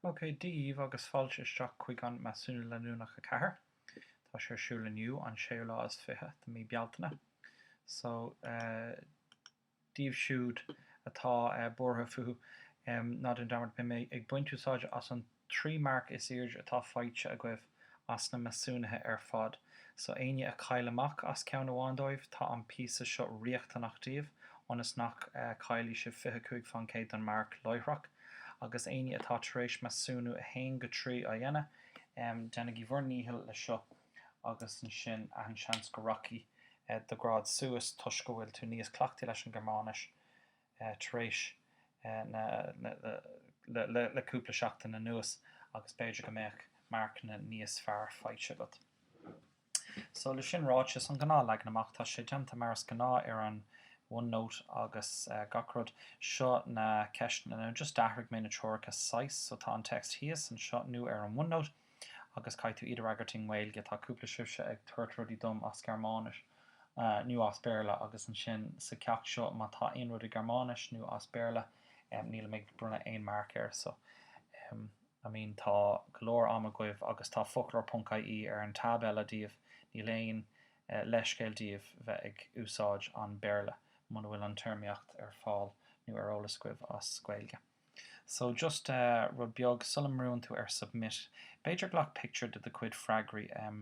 OK, Dia daoibh agus fáilte isteach chuig an Measúnú Leanúnach 4. Tá sé ar siúl inniu, an séú lá is fiche de mí Bealtaine. So, daoibh siúd atá buartha fúthu, ná déan dearmad, beidh mé ag baint úsáide as an. Trí marc is airde atá faighte agaibh as na measúnuithe ar fad. So éinne a chaill amach as ceann amháin dóibh, tá an píosa seo riachtanach daoibh ionas nach gcaillfidh sibh fiche cúig fán gcéad don marc láithreach. Agus éinne atá tar éis measúnú 1-3 a dhéanamh, déanaigí bhur ndícheall leis seo agus ansin achan seans go rachaidh do ghrád suas toisc go bhfuil tú níos cleachtaí leis an Gearmáinis. tar éis le cúpla seachtain anuas agus b'fhéidir go mbeadh marcanna níos fearr faighte agat. So, le sin ráite, is an gnáth leagan amach, tá sé déanta mar is gnáth ar an OneNote agus gach rud. Seo na ceisteanna, just d'athraigh mé na treoracha saghas, so tá an text thíos anseo nó ar an one note. agus caithfidh tú iad a fhreagairt i nGaeilge. Tá cúpla sibhse ag tabhairt rudaí dom as Gearmáinis nó as Béarla agus ansin sa cheacht seo má tá aon rud i Gearmáinis nó as Béarla níl mé ag bronnadh aon marc air. So, I mean tá go leor ama agaibh agus tá foclóir ponc IE ar an tab eile daoibh, níl aon leithscéal daoibh bheith ag úsáid an Béarla muna bhfuil an téarmaíocht ar fáil nó ar eolas agaibh as Gaeilge. So, just eh, rud beag, sula mbrúnn tú ar submit, b'fhéidir glac pictiúr de do chuid freagraí, em,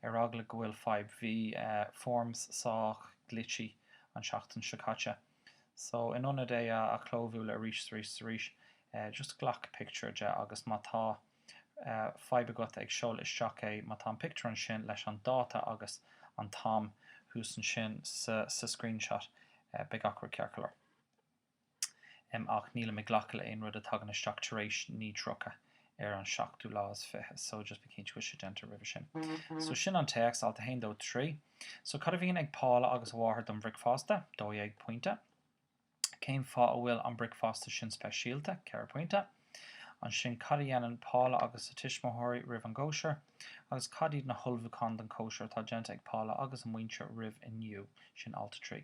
ar eagla go bhfuil fadhb, bhí, eh, forms sách glitchy an seachtain seo caite. So, in ionad é a, a chlóbhualadh arís 's arís 's arís, eh, just glac pictiúr de agus má tá, eh, fadhb agat ag seoladh isteach é, má tá an pictiúr ansin leis an dáta agus an t-am thuas ansin sa, sa screenshot, eh, beidh gach rud ceart go leor. ach nílim ag glacadh le aon rud a thagann isteach tar éis 9:30 ar an seachtú lá is fiche so just bí cinnte go bhfuil sé déanta roimhe sin. So sin an téacs, alt a haon, dó, trí. So cad a bhíonn ag Paula agus a mháthair don bhricfeasta? Dó dhéag pointe. Cén fáth a bhfuil an bricfeasta sin speisialta? Ceithre pointe. Ansin cad a dhéanann Paula agus a tuismitheoirí roimh an gcóisir? Agus cad iad na hullmhúcháin don chóisir atá déanta ag Paula agus a muintir roimh inniu? Sin alt a trí.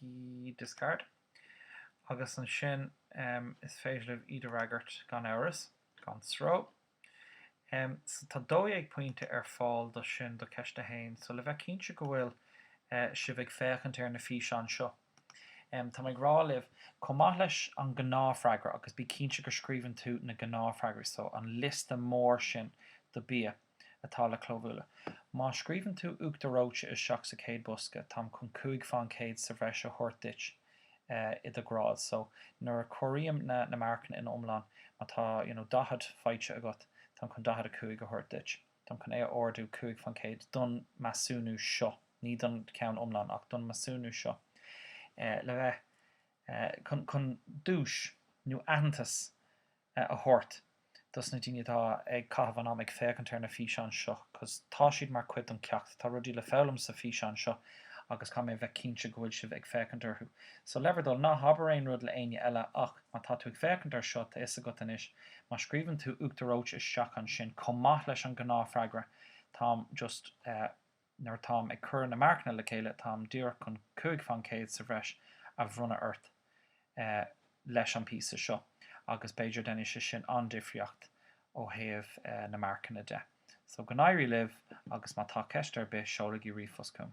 key discard agus ansin is féidir libh iad a fhreagairt gan amhras, gan stró. So tá 12 pointe ar fáil do sin, do cheist a haon. So le bheith cinnte go bhfuil sibh ag féachaint ar na físeáin seo, tá mé ag rá libh, chomh maith leis an gnáthfhreagra, agus bí cinnte go scríobhann tú na gnáthfhreagraí, so an liosta mór sin do bia. atá le clóbhualadh. Má scríobhann tú Uachtar Reoite isteach sa chéad bhosca, táim chun cúig fán chéad sa bhreis a thabhairt duit i do ghrád. So, nuair a chomhairím na marcanna ina iomlán, má tá, you know, 40 faighte agat, táim chun 45 a thabhairt duit. Táim chun a ardú cúig fán chéad don mheasúnú seo, ní don cheann iomlán ach don mheasúnú seo, le bheith, chun, chun duais nó aitheantas a thabhairt dos na daoine atá ag caitheamh an am ag féachaint ar na físeáin seo 'cause tá siad mar cuid don ceacht. Tá rudaí le foghlaim sa físeáin seo agus caithfidh mé bheith cinnte go bhfuil sibh ag féachaint orthu. So le bhur dtoil, ná habair aon rud le éinne eile ach má tá tú ag féachaint ar seo, tá fhios agat anois, má scríobhann tú Uachtar Reoite isteach ansin, chomh maith leis an ghnáthfhreagra, táim just eh, Nuair atáim ag cur na marcanna le chéile táim díreach chun cúig fán céad sa bhreis a bhronnadh ort leis an bpíosa seo agus b'fhéidir déanfaidh sé sin an-difríocht ó thaobh na marcanna de. So go n-éirí libh agus má tá ceist ar bith seolaigí ríomhphost chugam.